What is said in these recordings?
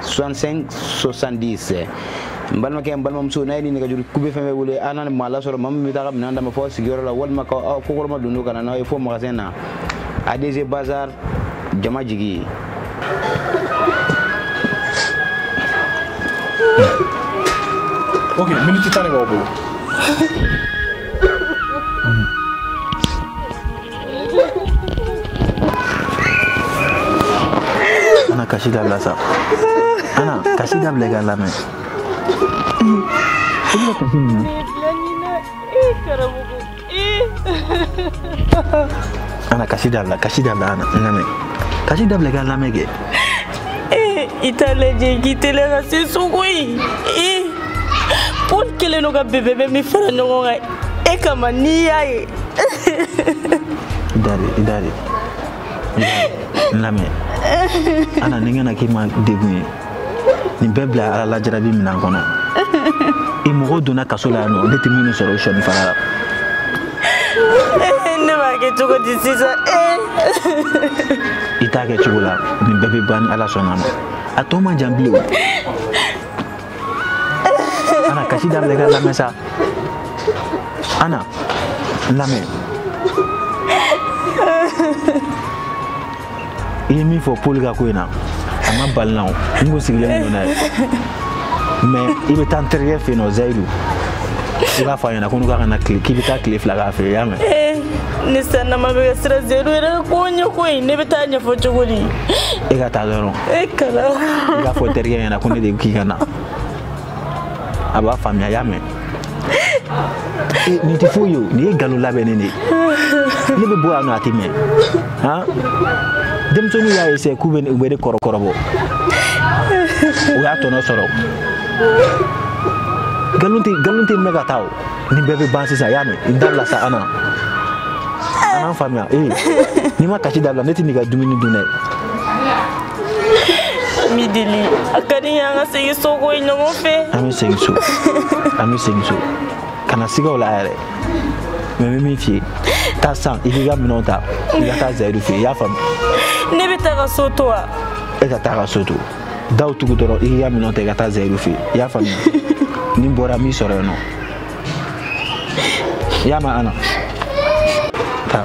65 70 n balimakɛ n balimamuso n'a ye ni nɛgɛjuru kube fɛn fɛn wele an na maa lasɔrɔ maa min bɛ taa ka minɛn d'aw ma fo sigiyɔrɔ la walima ka aw kokɔrɔma don n'o ka na n'aw ye fo magasin na adc bazar jama jigi ok miniti tan de b'aw bolo ana kasi dabila sa ana kasi dabila i ka lamɛn i bɛ kasi min na ana kasi dabila kasi dabila ana n lamɛn kasi dabila i ka lamɛn kɛ i t'a lajɛ k'i teliya ka se sogo ye paul kɛlen don ka bebe bɛ min fara ɲɔgɔn kan e kama n'i y'a ye idari idari lamɛn ana nin kana k'i ma degun ye nin bɛɛ bila ala la jarabi minan kɔnɔ i mɔgɔw donna kaso la yan nɔ ne tɛ minnu sɔrɔ sɔni fara la ne b'a kɛ cogo di sisan i t'a kɛ cogo la nin bɛɛ bɛ ban ni ala sɔnna ma a tɔ man jan bilen ana kasi dabila ka lamɛn sa ana lamɛn i ye min fɔ paul ka ko in na a ma bala n na o n kun sigilen don n'a ye mɛ i bɛ taa n terikɛ fɛ yen nɔ zayidu i b'a fɔ a ɲɛna ko ne k'i ka na tile k'i bɛ taa tile fila k'a fɛ yen y'a mɛn eh, ni sannama bɛ ka siran zayidu yɛrɛ ko ɲɛ ko in ne bɛ taa ɲɛfɔ cogo di e ka taa dɔrɔn e kala i b'a fɔ n terikɛ ɲɛna ko ne de k'i ka na a b'a faamuya y'a mɛn nin tɛ foyi ye o nin ye nkalon labɛnnen de ye ne bɛ bɔ yan nɔ a tɛ mɛn han denmisɛnninw y'a ese k'u bɛ u bɛ ne kɔrɔ kɔrɔbɔ u y'a tɔnɔ sɔrɔ nkalon tɛ nkalon tɛ mɛn ka taa o nin bɛɛ bɛ ban sisan i y'a mɛn i dabila sa ana n faamuya ee n'i ma kasi dabila ne tɛ n'i ka dumuni dun dɛ n b'i deli a ka di n ye an ka segin so ko ye ɲɔgɔn fɛ an bɛ segin so an bɛ segin so kana siga o la yɛrɛ mɛ n bɛ min f'i ye taa sa i k'i ka minɛnw ta i ka taa zayidu fɛ yen i y'a faamu ne bɛ taa ka so to wa e ka taa ka so to daw tugu dɔrɔn i ka minɛnw ta i ka taa zayidu fɛ i y'a faamuya ni n bɔra n b'i sɔrɔ yen nɔ i y'a mɛn ana taa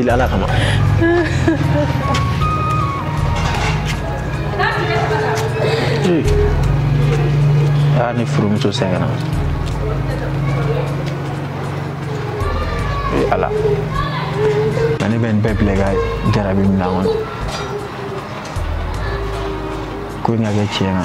Bila ala kama. Ah, ni furumuso sɛgɛnna. Ee ala. Nka ne bɛ nin bɛɛ bila i ka jarabi minɛn kɔnɔ. Ko in ka kɛ tiɲɛ na.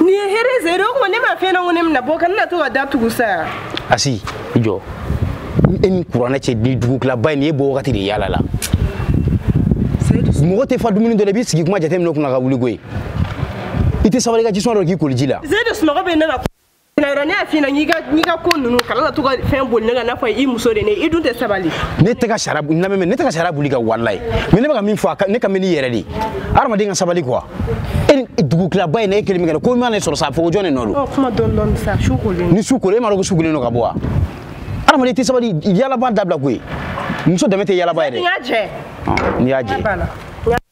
nin ye hɛrɛ ze de o tuma ne m'a f'e ɲɛna ko ne bɛna bɔ kana to ka da tugu sa yan asi i jɔ e ni kuranɛ cɛ ni dugutilaba in nin ye bɔ wagati de yaala la mɔgɔ tɛ fa dumuni dɔ la i b'i sigi kuma jate minɛn kunna ka wuli koyi i tɛ sabali ka jisuma dɔ k'i koliji la ze de sunɔgɔ bɛ ne la Nayɔrɔ ne y'a f'i ɲɛna n'i ka ko ninnu kana na to ka fɛn boli ne kan n'a fɔ i muso de ne i dun tɛ sabali. ne tɛ ka sariya n lamɛn ne tɛ ka sariya boli i kan walayi mais ne bɛ ka min fɔ a ka ne ka mɛn n'i yɛrɛ de ye hadamaden ka sabali quoi e ni dugu tilaba in na e kelen min kɛ ko man'i sɔrɔ sa a fɔ ko jɔn de nɔ don. ɔ kuma dɔɔni dɔɔni sa su kolen. ni su kolen e m'a dɔn ko su kolen don ka bɔ wa hadamaden tɛ sabali yaalaba dabila koyi muso danbe tɛ yaalaba ye dɛ. n y'a jɛ. n'i y'a jɛ.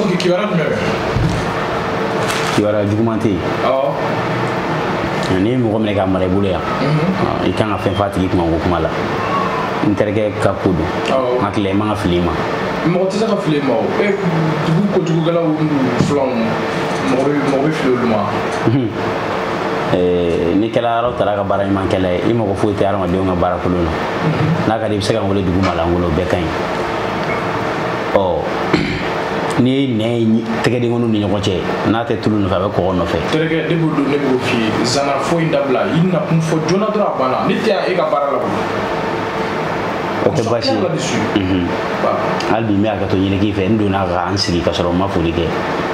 Oke kibaruya jumɛn bɛ? Kibaruya juguman tɛ yen. Awɔ. N'i ye mɔgɔ minɛ k'a mara i bolo yan, i kan ka fɛn f'a tigi kuma ko kuma la. N terikɛ ka ko don. Awɔ. N hakili la i man ka fili i ma. Mɔgɔ tɛ se ka fili i ma o. E dugu kojugukɛlaw filanw mɔgɔ bɛ mɔgɔ bɛ fili olu ma. eh, n'i kɛla ala taala ka baara ɲuman kɛla ye i mago foyi tɛ hadamadenw ka baara kolon na n'a ka di i bɛ se ka n wele dugu ma la n wele o bɛɛ ka ɲi ɔ n'i ye nɛn ye tɛgɛdenkɔniw ni ɲɔgɔn cɛ n'a tɛ tulu nɔfɛ a bɛ kɔgɔ nɔfɛ terikɛ ne b'o dɔn ne b'o f'i ye zana fɔ in dabila i nakun fɔ joona dɔrɔn a banna ne tɛ yan e ka baara la o tɛ baasi ye hali bi n bɛ hakɛto ɲini k'i fɛ n donna ka n sigi ka sɔrɔ n ma foli kɛ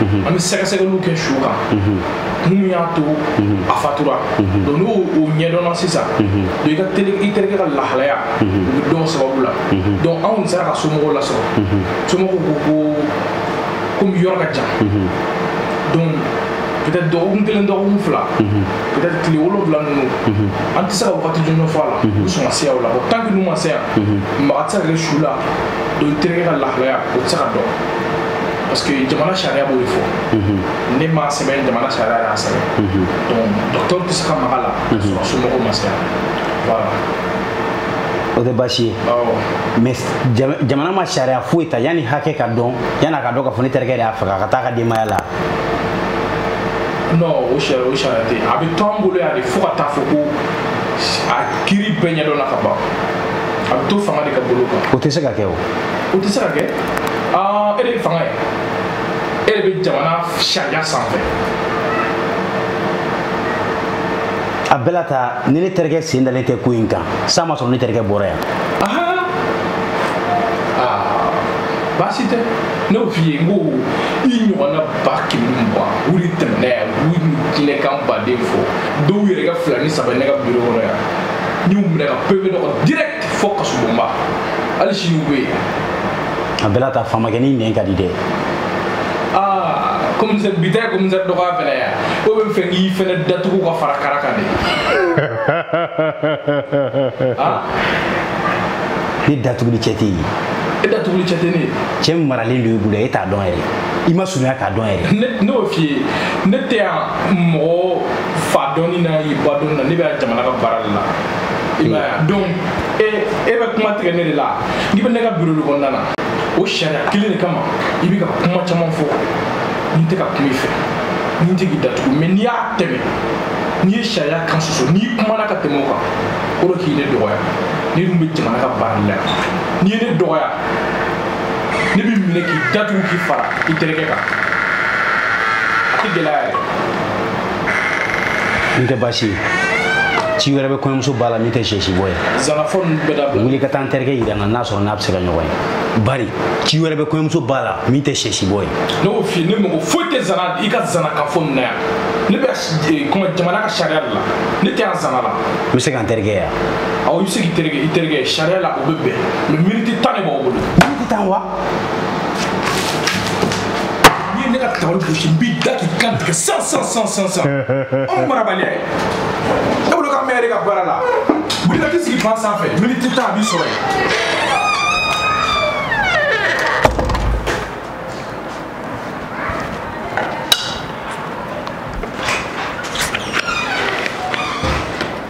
mhm. an bɛ sɛgɛsɛgɛliw kɛ su kan mun y'a to a fatura donc n'o o ɲɛdɔnna sisan donc i ka teri i terikɛ ka lahalaya o bɛ dɔn sababu la donc anw tun sera ka somɔgɔw lasɔrɔ somɔgɔw ko ko komi yɔrɔ ka jan donc peut-être dɔgɔkun kelen dɔgɔkun fila peut-être tile wolonwula ninnu an tɛ se ka wagati jɔnjɔn fɔ a la u sɔn ka se yan o la bon tant que n'u ma se yan maga tɛ se ka kɛ su la donc terikɛ ka lahalaya o tɛ se ka dɔn parce que jamana sariya b'o de fɔ ne m'a sɛbɛn jamana sariya y'a sɛbɛn donc docteur tɛ se ka maga a la ka sɔrɔ somɔgɔw ma se voilà o tɛ baasi ye mais jamana ma sariya foyi ta yanni hakɛ ka dɔn yanni a ka dɔn k'a fɔ ne terikɛ de y'a faga ka taa a ka denbaya la non o sariya o sariya tɛ a bɛ to an bolo yan de fo ka taa fɔ ko a kiri bɛɛ ɲɛdɔnna ka ban a bɛ to fanga de ka bolo kan o tɛ se ka kɛ o o tɛ se ka kɛ aa e de ye fanga ye e de bɛ jamana sariya sanfɛ a bɛɛ la ta ni ne terikɛ sen dalen tɛ ko in kan san ma sɔrɔ ne terikɛ bɔra yan baasi tɛ ne y'o f'i ye n ko i ɲɔgɔnna ba kɛmɛ ni mugan wuli tɛmɛna yan u y'u diinɛkan baden fɔ dɔw yɛrɛ ka fila ni saba ne ka biro kɔnɔ yan n y'u minɛ ka pepe dɔ kɔnɔ direct fo kasobonba hali sini u bɛ yen a bɛɛ la ta famakɛ nin nɛn ka di dɛ komisɛri bi tɛ komisɛri dɔgɔya fɛnɛ yan o bɛ fɛ k'i fɛnɛ datugu ka fara kara kan de ne datuguli cɛ tɛ yen e datuguli cɛ tɛ ne ye cɛ maralen don i bolo e t'a dɔn yɛrɛ i ma surunya k'a dɔn yɛrɛ ne y'o f'i ye ne tɛ yan mɔgɔ fa dɔnni na i ba dɔnni na ne bɛ yan jamana ka baara de la donc e e bɛ kuma tigɛ ne de la n'i bɛ ne ka biro de kɔnɔna na o sariya kelen de kama i bɛ ka kuma caman fɔ ne tɛ ka kuma i fɛ ne tɛ k'i datugu mais n'i y'a tɛmɛ n'i ye sariya kan soso n'i kumana ka tɛmɛ o kan o kɔrɔ k'i ne dɔgɔya ne dun bɛ jamana ka baara la n'i ye ne dɔgɔya ne b'i minɛ k'i datugu k'i fara i terikɛ kan a tɛ gɛlɛya yɛrɛ n tɛ baasi ye ci wɛrɛ bɛ kɔɲɔmuso ba la min tɛ sɛsi bɔ ye zanafɔ ninnu bɛɛ dabila wuli ka taa n terikɛ yira n na n'a sɔrɔ n'a bɛ se ka ɲɔgɔn ye bari ci wɛrɛ bɛ kɔɲɔmuso ba la min tɛ sɛsi bɔ ye ne y'o f'i ye ne mago foyi tɛ zana i ka zanakan fɔ nin na yan ne bɛ eh, kuma jamana ka sariya de la ne tɛ yan zana la n bɛ se ka n terikɛ ye wa awɔ i bɛ se k'i terikɛ i terikɛ sariya la o bɛ bɛn mais miniti tan de b'aw bolo miniti tan wa ne ka tabali gosi n b'i da k'i kan tigɛ san san san san san anw marabaliya ye e bolo ka mɛn de ka baara la wuli ka t'i sigi fan sanfɛ miniti tan a b'i sɔrɔ yen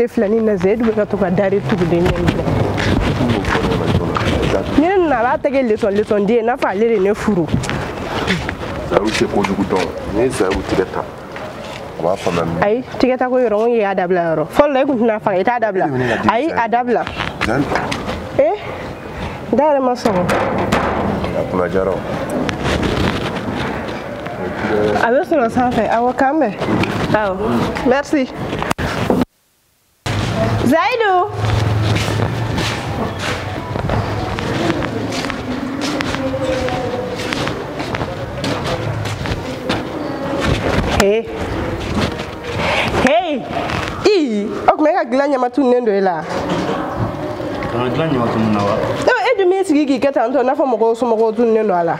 ne filɛ ni na zeyidu bɛ ka to ka dari tuguden ɲɛ minɛ ni ne nana a b'a tɛgɛ lesɔn lesɔn den n'a fɔ ale de ne furu zayiru tɛ kojugu dɔn n'i ye zayiru tigɛ ta a b'a faamuya min ayi tigɛ ta ko yɔrɔ n ko y'a dabila yɔrɔ fɔlɔ la i kun tɛna faga i t'a dabila ayi a dabila zayiru ee da yɛrɛ ma sɔgɔ a kunna jara o a bɛ sɔrɔ sanfɛ awɔ k'an bɛn awɔ merci zayidu Hey. Hey! I! O kuma e ka gilan ɲama tununen don e la. Ko n ka gilan ɲama tununna wa? Ee e dun b'i sigi k'i kɛ tantɔ n'a fɔ mɔgɔw somɔgɔw tununen don a la.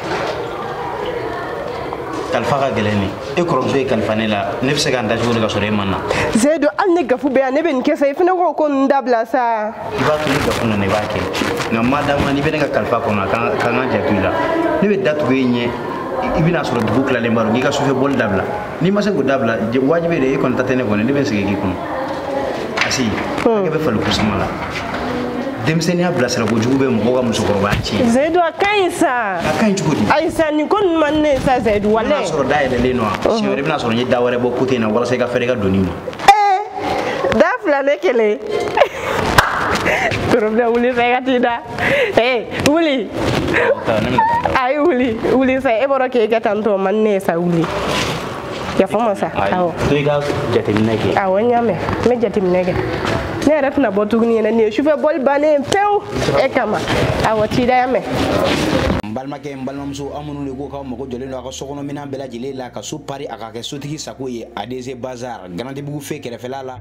Kalifa ka gɛlɛn ni. E kɔrɔmuso y'e kalifa ne la. Ne bɛ se ka n da cogo di ka sɔrɔ e ma na? Zayidu hali ni gafu bɛ yan ne bɛ nin kɛ sa i fana k'o ko ninnu dabila sa. I b'a to ni gafu nana i b'a kɛ. Nka ma d'a ma n'i bɛ ne ka kalifa kɔnɔ a kan ka n ka janto i la. Ne bɛ da tugu e ɲɛ i bɛna sɔrɔ dugu tilalen b'a dɔn k'i ka sufɛ bɔli dabila. n'i ma se k'o dabila wajibi de e kɔni ta tɛ ne kɔni ne bɛ sigi k'i kɔnɔ asi hakɛ bɛ fali kusuma la denmisɛnninya bilasira kojugu bɛ mɔgɔ ka musokɔrɔbaya tiɲɛ zayidu a ka ɲi sa a ka ɲi cogo di ayi sa nin ko ninnu man ne sa zayidu walayi n'a sɔrɔ da yɛlɛlen don wa siɲɛ wɛrɛ i bɛna sɔrɔ n ye da wɛrɛ bɔ côté in na walasa i ka fɛrɛ ka donni ma da fila ne kelen problème wuli sa i ka t'i da ee wuli ayi wuli wuli sa e bɔra k'e kɛ tan tɔ man ne ye sa wuli yafa n ma sa awɔ to i ka jateminɛ kɛ awɔ n y'a mɛn n bɛ jateminɛ kɛ ne yɛrɛ tɛna bɔ tuguni yɛrɛ nin ye sufɛ bɔli bannen pewu e kama awɔ t'i da y'a mɛn n balimakɛ n balimamuso aw minnu de ko k'aw mago jɔlen don a ka sokɔnɔminɛn bɛɛ lajɛlen la ka so pari a ka kɛ sotigi sago ye adc bazar garantibugu feu kɛrɛfɛla la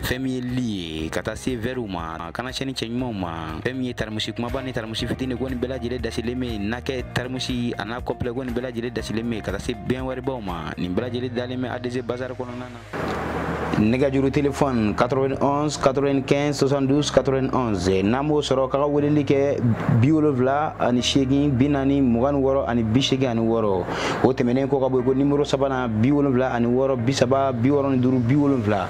fɛn min ye li ye ka taa se vɛriw ma kana sɛni cɛɲumanw ma fɛn min ye tarimusi kumaba ni tarimusi fitini ko nin bɛɛ lajɛlen dasilen bɛ n'a kɛ tarimusi a n'a kɔpilɛ ko nin bɛɛ lajɛlen dasilen bɛ ka taa se bɛn wɛribaw ma nin bɛɛ lajɛlen dalen bɛ adc bazar kɔnɔna na nɛgɛjuru telefɔni 91 95 72 91 n'a m'o sɔrɔ k'a ka weleli kɛ bi wolonwula ani seegin bi naani mugan ni wɔɔrɔ ani bi seegin ani wɔɔrɔ o tɛmɛnen kɔ ka bɔ yen ko nimoro sabanan bi wolonwula ani wɔɔrɔ bi saba bi wɔɔrɔ ni duuru bi wolonwula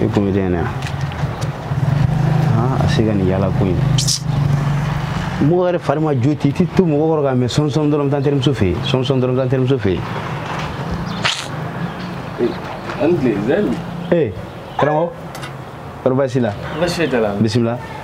i kun bɛ den na a se ka nin yala ko in mɔgɔ yɛrɛ fari ma jo ti i t'i to mɔgɔ kɔrɔ ka mɛɛn sɔnsɔn dɔrɔn taa n terimuso fɛ yen sɔnsɔn dɔrɔn taa n terimuso fɛ yen ee karamɔgɔ kɔrɔ baasi la bisimila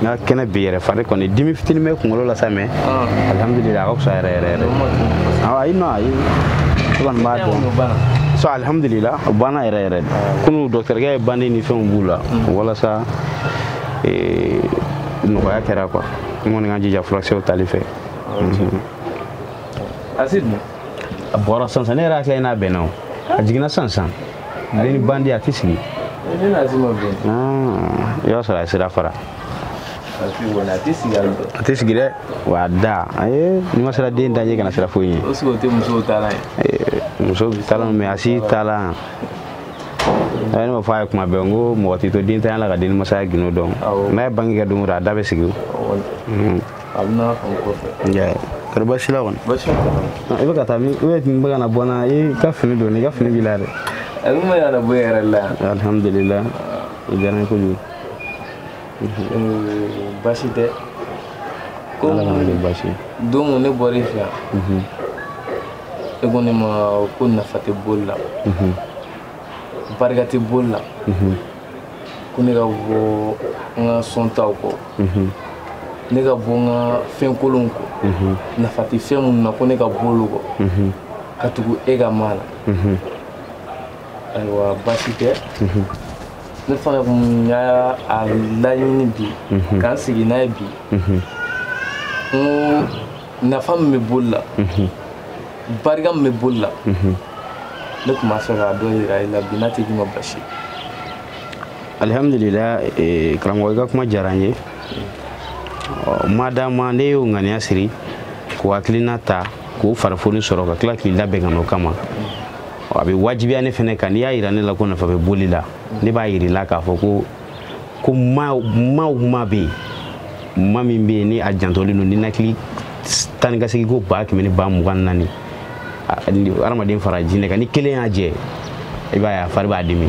n ka kɛnɛ bi yɛrɛ fari kɔni dimi fitini bɛ kunkolo la sa mais alihamudulila a ka fisa yɛrɛ yɛrɛ yɛrɛ ayi non ayi ne kɔni b'a dɔn so alihamudulila o banna yɛrɛ yɛrɛ de kunu dɔkitɛrikɛ ye bandi ni fɛnw b'u la walasa nɔgɔya kɛra quoi n kɔni ka n jija furakisɛw tali fɛ asi dun a bɔra sansan ne yɛrɛ hakili la n'a bɛnna o a jiginna sansan ale ni bandi a tɛ sigi i b'a sɔrɔ a sira fara a tɛ sigi dɛ wa a da ayi n'i ma sera den daje kana sira foyi ye muso talan mɛ a si talan a ye ne ma fɔ a ye kuma bɛɛ n ko mɔgɔ t'i to dentanya la ka den masaya gindo dɔn n'a ye bange kɛ don o don a da bɛ sigi a bɛ na fan kɔfɛ kari basila kɔni i bɛ ka taa min ne tun bɛ ka na bɔ na i ka fini don i ka fini b'i la dɛ a bɛ maa yɛrɛ bɔ yɛrɛ la alihamudulila o diyara n ye kojugu basi tɛ ko basi don ne bɔra i fɛ yan e ko ne ma ko nafa tɛ boli la barika tɛ boli la ko ne ka bɔ n ka sɔntaw kɔ mhm. ne ka bɔ n ka fɛn kolonw kɔ mhm. nafa tɛ fɛn minnu na ko ne ka bɔ olu kɔ mhm. ka tugu e ka maa la ayiwa baasi tɛ ne fana kun y'a laɲini bi k'an sigi n'a ye bi n ko nafa min bɛ boli la barika min bɛ boli la ne tun b'a fɛ k'a dɔ yira i la bi n'a tɛ k'i ma basi alihamudulila eh, karamɔgɔ i ka kuma diyara n ye madama n'e y'o ŋaniya siri k'o hakilina ta k'o farifoni sɔrɔ ka tila k'i labɛn ka n'o kama a bɛ wajibiya ne fɛnɛ kan n'i y'a yira ne la ko nafa bɛ boli la ne b'a yir'i la k'a fɔ ko ko maaw maaw maa bɛ yen maa min bɛ yen ni a jantolen don ninakili ta ni k'a segin ko ba kɛmɛ ni ba mugan naani adamaden fara jinɛ kan ni kelen y'a jɛ i b'a ye a fari b'a dimi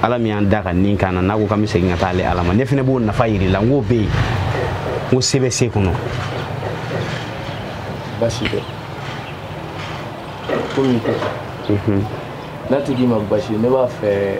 ala min y'an da ka nin k'an na n'a ko k'an bɛ segin ka taa ale ala ma ne fɛnɛ b'o nafa yir'i la n k'o bɛ yen n ko se bɛ se kɔnɔ basi tɛ ko min tɛ n'a tɛ k'i ma basi ne b'a fɛ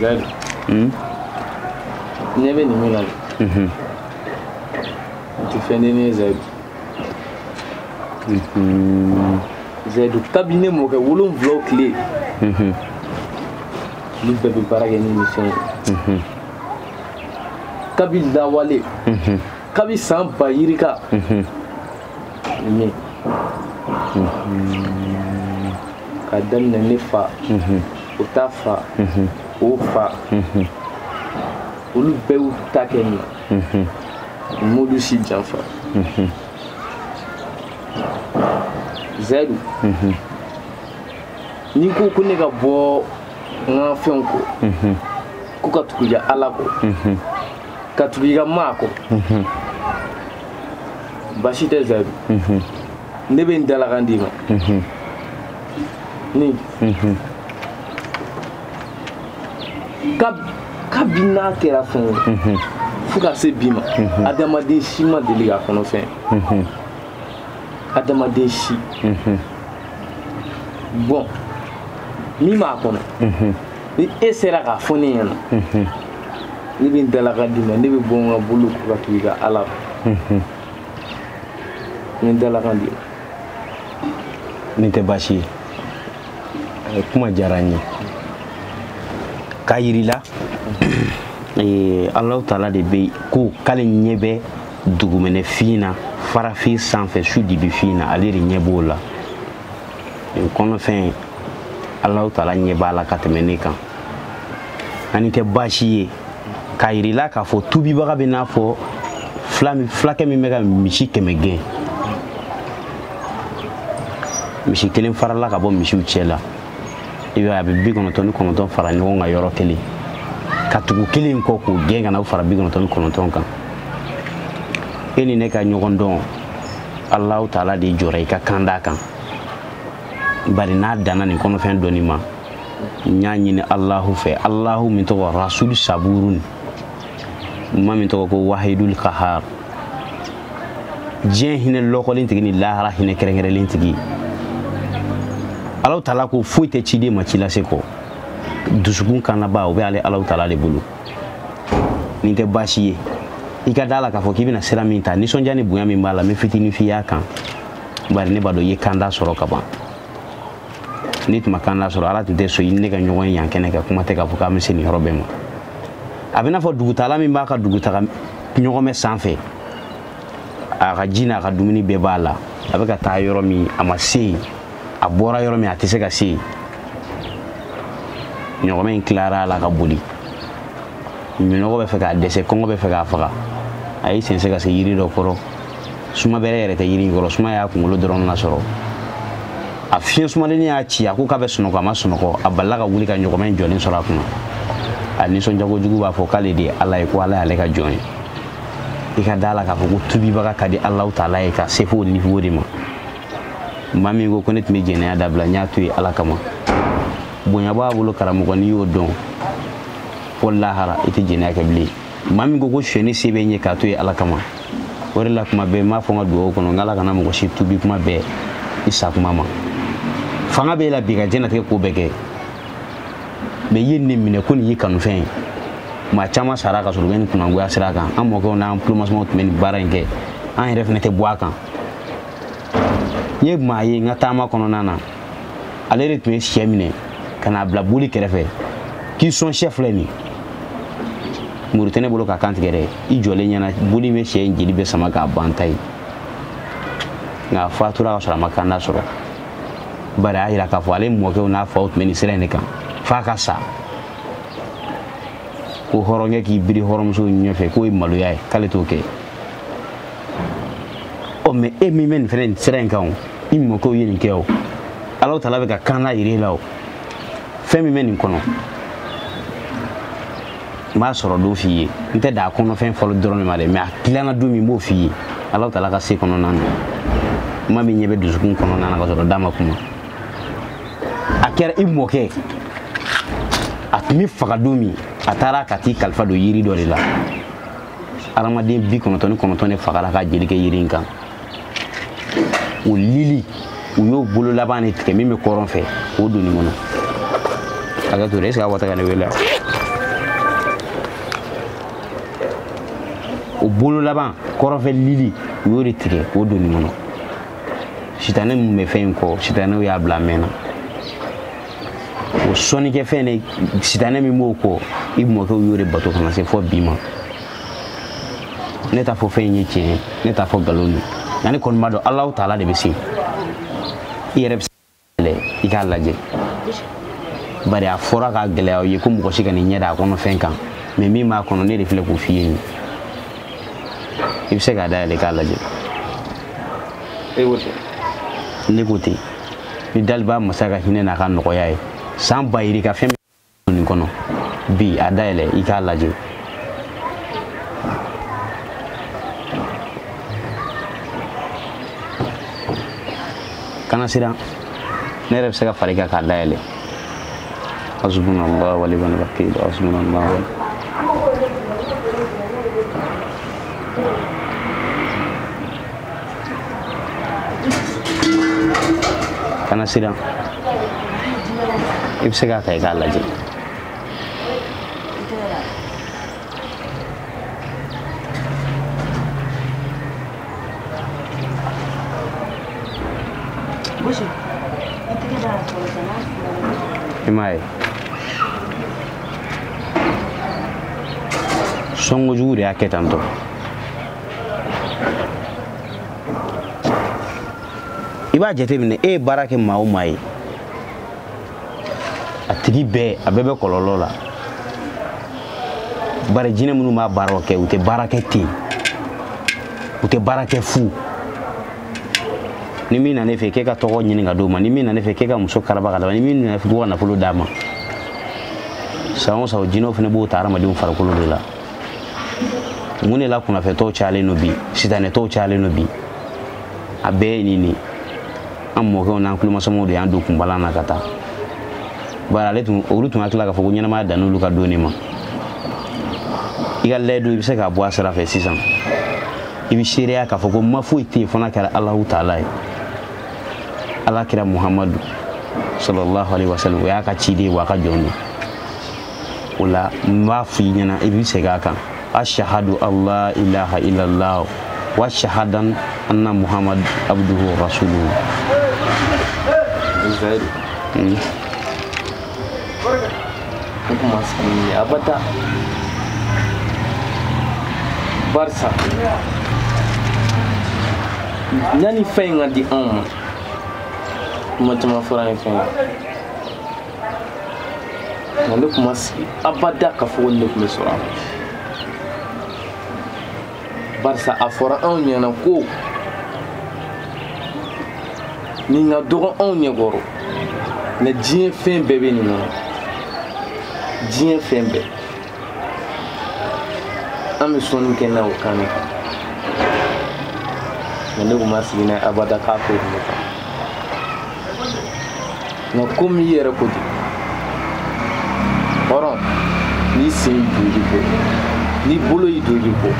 Zaidu. Hmm? Ne bɛ nin min na. Mhm. N tɛ fɛn den ye Zaidu. Mhm. Zaidu kabini ne mɔkɛ wolonwulaw tile. Mhm. Olu bɛɛ bɛ baara kɛ ni nin fɛn ye. Kabi lawale. Kabi san ba yirika. nin k'a daminɛ ne fa o ta fa o fa olu bɛɛ y'u ta kɛ nin na a m'olu si janfa zayidu n'i ko ko ne ka bɔ n ka fɛnw kɔ ko ka tugu i ka ala kɔ ka tugu i ka maa kɔ basi tɛ zayidu mhm. ne bɛ n dalakan d'i ma mhm. ni mhm. kabi n'a kɛra fɛn ye fo ka se bi ma adamaden si ma deli k'a kɔnɔfɛn adamaden si dɔn min b'a kɔnɔ ni e sera k'a fɔ ne ɲɛna ne bɛ n dalakan d'i ma ne bɛ bɔ n ka boliw kɔ ka tugu i ka ala kɔ n bɛ n dalakan d'i ma nin tɛ baasi ye Eh, kuma diyara n ye k'a yirila eh, alahu taala de bɛ ko k'ale ɲɛ bɛ dugumɛnɛfin na farafin sanfɛ su dibifin na ale de ɲɛ b'o la nin kɔnɔfɛn alahu taala ɲɛ b'a la ka tɛmɛ ne kan an nin tɛ baasi ye k'a yirila k'a fɔ tubibaga bɛ n'a fɔ fulakɛ min bɛ ka misi kɛmɛ gɛn misi kelen farala ka bɔ misiw cɛ la i b'a ye a bɛ bi kɔnɔntɔn ni kɔnɔntɔn fara ɲɔgɔn kan yɔrɔ kelen ka tugu kelen kɔ k'o gɛn ka na o fara bi kɔnɔntɔn ni kɔnɔntɔn kan e ni ne ka ɲɔgɔn dɔn alahu taala de jɔra i ka kan d'a kan bari n'a danna nin kɔnɔfɛn dɔnni ma n y'a ɲini alahu fɛ alahu min tɔgɔ rasul saburun ma min tɔgɔ ko wahidul kahar diɲɛ hinɛ lɔkɔlen tigi ni lahara hinɛ kɛrɛnkɛrɛnlen tigi alahu taala ko foyi tɛ ciden ma ci lase kɔ dusukun kannaba o bɛ ale alahu taala de bolo nin tɛ baasi ye i ka da la k'a fɔ k'i bɛna sira min ta nisɔndiya ni bonya min b'a la n bɛ fitinin f'i y'a kan bari ne b'a dɔn i ye kanda sɔrɔ ka ban n'i tun ma kanda sɔrɔ ala tun tɛ sɔn i ni ne ka ɲɔgɔn ye yan kɛnɛ kan kuma tɛ k'a fɔ k'an bɛ se nin yɔrɔ bɛɛ ma a bɛ n'a fɔ dugutaala min b'a ka dugutaga ɲɔgɔmɛ sanfɛ a ka ji n'a ka dumuni bɛɛ b'a la a bɛ ka taa yɔrɔ min a ma se yen a bɔra yɔrɔ min a tɛ se ka se yen ɲɔgɔmɛ in tilara a la ka boli minɔgɔ bɛ fɛ k'a dɛsɛ kɔngɔ bɛ fɛ k'a faga a y'i sɛnsɛn ka se yiri dɔ kɔrɔ suma bɛrɛ yɛrɛ tɛ yiri in kɔrɔ suma y'a kunkolo dɔrɔn lasɔrɔ a fiɲɛ sumalennin y'a ci a ko k'a bɛ sunɔgɔ a ma sunɔgɔ a balila ka wuli ka ɲɔgɔmɛ in jɔlen sɔrɔ a kunna a nisɔndiya kojugu b'a fɔ k'ale de ye ala ye ko ala y'ale ka jɔn ye i ka da la k'a fɔ ko tubibaga ka di alahu taala ye ka se fo o niveau de ma maa min ko ko ne tun bɛ jɛnɛya dabila n y'a to yen ala kama bonya b'a bolo karamɔgɔ n'i y'o dɔn fo lahara i tɛ jɛnɛya kɛ bilen maa min ko ko sonyɛni se bɛ n ye k'a to yen ala kama o de la kuma bɛɛ n b'a fɔ n ka dugawu kɔnɔ n k'ala kana mɔgɔ si tubi kuma bɛn i sa kuma ma fanga b'e la bi ka diɲɛlatigɛ ko bɛɛ kɛ mɛ i ye nin minɛ ko nin y'i kanufɛn ye maa caman sara ka sɔrɔ u bɛ nin kunangoya sira kan an mɔkɛw n'an tulomasamaw tun bɛ nin baara in kɛ an yɛrɛ fana tɛ bɔ a kan n ye maa ye n ka taama kɔnɔna na ale de tun ye sɛ minɛ ka n'a bila boli kɛrɛfɛ k'i sɔn sɛ filɛ nin muru tɛ ne bolo k'a kan tigɛ dɛ i jɔlen ɲɛna boli bɛ sɛ in jeli bɛɛ sama k'a ban ta ye nka a fatura ka sɔrɔ a ma kanda sɔrɔ bari a y'a yira k'a fɔ ale mɔkɛw n'a faw tun bɛ nin sira in de kan f'a ka sa ko hɔrɔnkɛ k'i biri hɔrɔnmuso ɲɛfɛ k'o ye maloya ye k'ale t'o kɛ ɔ mɛ e min bɛ nin fɛnɛ nin sira in kan o i mɔkɛw ye nin kɛ o alahu taala bɛ ka kanda yir'e la o fɛn min bɛ nin kɔnɔ n b'a sɔrɔ don f'i ye n tɛ dan a kɔnɔfɛn fɔli dɔrɔn de ma dɛ mɛ a dilanna don min n b'o f'i ye alahu taala ka se kɔnɔna na kuma min ɲɛ bɛ dusukun kɔnɔna na ka sɔrɔ da ma kuma a kɛra i mɔkɛ a tun bɛ faga don min a taara ka t'i kalifa don yiri dɔ de la hadamaden bi kɔnɔntɔn ni kɔnɔntɔn de fagara ka jeli kɛ yiri in kan o lili u y'o bolo laban de tigɛ min bɛ kɔrɔn fɛ k'o don nin kɔnɔ hakɛ to dɛ est ce que a wata ka ne wele o bolo laban kɔrɔnfɛ lili u y'o de tigɛ k'o don nin kɔnɔ sitanɛ min bɛ fɛn in kɔ sitanɛw y'a bila a mɛnna o sɔnnikɛ fɛn de sitanɛ min b'o kɔ i mɔkɛw y'o de bato ka na se fo bi ma ne t'a fɔ fɛn in ye tiɲɛ ye ne t'a fɔ nkalon don nka ne kɔni b'a dɔn alahu taala de bɛ se i yɛrɛ bɛ se k'a yɛlɛ i k'a lajɛ bari a fɔra k'a gɛlɛya aw ye ko mɔgɔ si kan'i ɲɛ da a kɔnɔ fɛn kan mɛ min b'a kɔnɔ ne de filɛ k'o f'i ye nin i bɛ se k'a dayɛlɛ k'a lajɛ ne ko ten ni daliba masa ka hinɛ n'a ka nɔgɔya ye san ba yirika fɛn min nin kɔnɔ bi a dayɛlɛ i k'a lajɛ kana siran ne yɛrɛ bɛ se ka far'i kan k'a dayɛlɛ hasbunallah wa ni'mal wakil hasbunallah wa kana siran i bɛ se k'a ta i k'a lajɛ i m'a ye sɔnkojugu de y'a kɛ tan tɔ i b'a jateminɛ e ye baara kɛ maa o maa ye a tigi bɛɛ a bɛɛ bɛ kɔlɔlɔ la bari jinɛ minnu b'a baaraw kɛ u tɛ baara kɛ ten u tɛ baara kɛ fu ni min na ne fɛ k'e ka tɔgɔ ɲini ka d'o ma ni min na ne fɛ k'e ka muso karaba ka d'a ma ni min na ne fɛ k'u ka nafolo d'a ma san o san o jinɛw fana b'o ta hadamadenw farikolo de la mun de la kunnafɛtɔw cayalen don bi sitanɛtɔw cayalen don bi a bɛɛ ye nin de an mɔkɛw n'an kulomasamaw de y'an don kunbalan na ka taa bari olu tun hakili la k'a fɔ ko ɲɛnamaya dan n'olu ka don de ma i ka layidu i bɛ se k'a bɔ a sira fɛ sisan i bɛ seereya k'a fɔ ko ma foyi tɛ yen fo n'a kɛra alahu taala ye ala kira muhamadu sallallahu alaihi wasallam o y'a ka ciden ye wa a ka jɔn don o la n b'a fɔ i ɲɛna i bɛ segin a kan ashhadu alla ilaha illallah wa ashhadu anna muhammad abduhu wa rasuluhu hmm. barisa yanni fɛn in ka di anw ma kuma caman fɔra ni fɛn ye nka ne tun ma sigi abada k'a fɔ ko nin de tun bɛ sɔrɔ a barisa a fɔra anw ɲɛna ko nin ka dɔgɔ anw ɲɛkɔrɔ nka diɲɛ fɛn bɛɛ bɛ nin kɔnɔ diɲɛ fɛn bɛɛ an bɛ sɔnni kɛ n'a o kan de kan nka ne tun ma sigi n'a ye abada k'a ko tun bɛ kan nka komi i yɛrɛ ko ten hɔrɔn n'i sen y'i don i bɔ n'i bolo y'i don i bɔ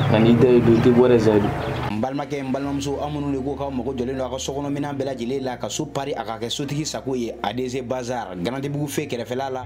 nka n'i da y'i don i tɛ bɔ dɛ zayidu n balimakɛ n balimamuso aw minnu de ko k'aw mago jɔlen don a ka sokɔnɔminɛn bɛɛ lajɛlen la ka so pari a ka kɛ sotigi sago ye adc bazar garantibugu fe kɛrɛfɛla la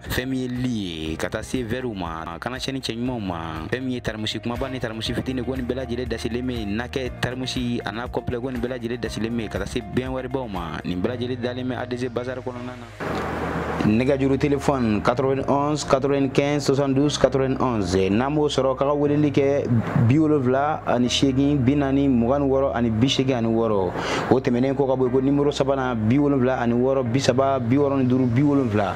fɛn min ye li ye ka taa se vɛriw ma ka na se nin cɛ ɲumanw ma fɛn min ye tarimusi kunbaba ni tarimusi fitini ko nin bɛɛ lajɛlen dasilen bɛ nakɛ tarimusi a n'a kɔnpilɛ ko nin bɛɛ lajɛlen dasilen bɛ ka taa se bɛn wɛribaw ma nin bɛɛ lajɛlen dalen bɛ adc bazar kɔnɔna na nɛgɛjuru telefɔni 91 95 72 91 n'a m'o sɔrɔ k'a ka weleli kɛ bi wolonwula ani seegin bi naani mugan ni wɔɔrɔ ani bi seegin ani wɔɔrɔ o tɛmɛnen kɔ ka bɔ yen ko nimoro sabanan bi wolonwula ani wɔɔrɔ bi saba bi wɔɔrɔ ni duuru bi wolonwula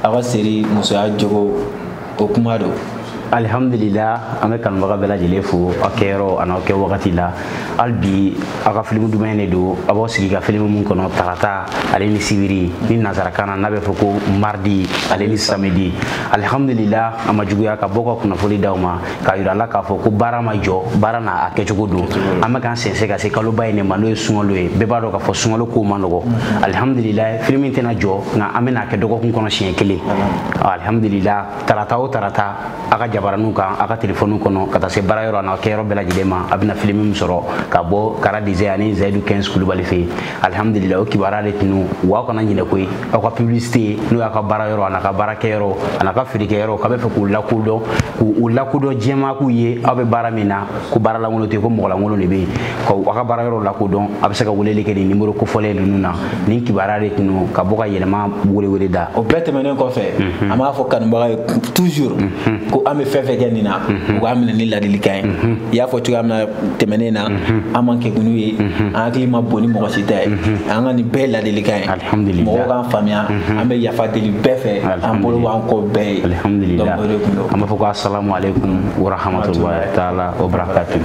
aw ka seri musoya jogo o kuma don alihamdulila an bɛ kanubaga bɛɛ lajɛlen fo aw kɛyɔrɔ an'aw kɛ wagati la hali bi aw ka filimu duman in de don aw b'aw sigi ka filimu min kɔnɔ tarata ale ni sibiri ni nansarakan na n'a bɛ fɔ ko mardi ale ni samedi alihamdulila a ma juguya ka bɔ ka kunnafoli d'aw ma k'a yira aw la k'a fɔ ko baara ma jɔ baara n'a kɛcogo don an bɛ k'an sɛnsɛn ka se kaloba in de ma n'o ye sunkalo ye bɛɛ b'a dɔn k'a fɔ sunkalo kow man nɔgɔ alihamudulila filimu tɛna jɔ nka an bɛna a kɛ dɔgɔkun kɔnɔ siɲɛ kelen alihamudulila tarata o tarata a ka jabaraniw kan a ka telefɔniw kɔnɔ ka taa se baara yɔrɔ n'a kɛyɔrɔ bɛɛ lajɛlen ma a bɛna filimu min sɔrɔ ka bɔ kara dize ani zayidu kɛnsi kulubali fɛ yen alhamdulillah o kibaruya de tun don aw kana ɲinɛ koyi aw ka publicité n'o y'a ka baara yɔrɔ an'a ka baara kɛ yɔrɔ an'a ka feerekɛ yɔrɔ k'a bɛ fɛ k'u lakodɔn k'u lakodɔn diɲɛmaa k'u ye aw bɛ baara min na ko baara lankolon tɛ ko mɔgɔ lankolon de bɛ yen ka aw ka baara yɔrɔ lakodɔn a bɛ se ka weleli kɛ nin nimoro kofɔlen ninnu na nin kibaruya de tun don ka bɔ ka yɛlɛma welewele da o bɛɛ tɛmɛnen kɔfɛ mhm. an b'a fɔ kanubagaw ye toujours mhm. ko an bɛ fɛn fɛn kɛ nin na mhm. u k'a minɛ ni ladilikan ye i y'a fɔ cogoya min na tɛmɛnen na an man kegun n'u ye an hakili ma bon ni mɔgɔ si ta ye an ka nin bɛɛ ladilikan ye mɔgɔw k'an faamuya an bɛ yafa deli bɛɛ fɛ an bolo b'an kɔ bɛɛ ye an b'a fɔ ko asalamu aleykum warahmatulahi taala wabarakatu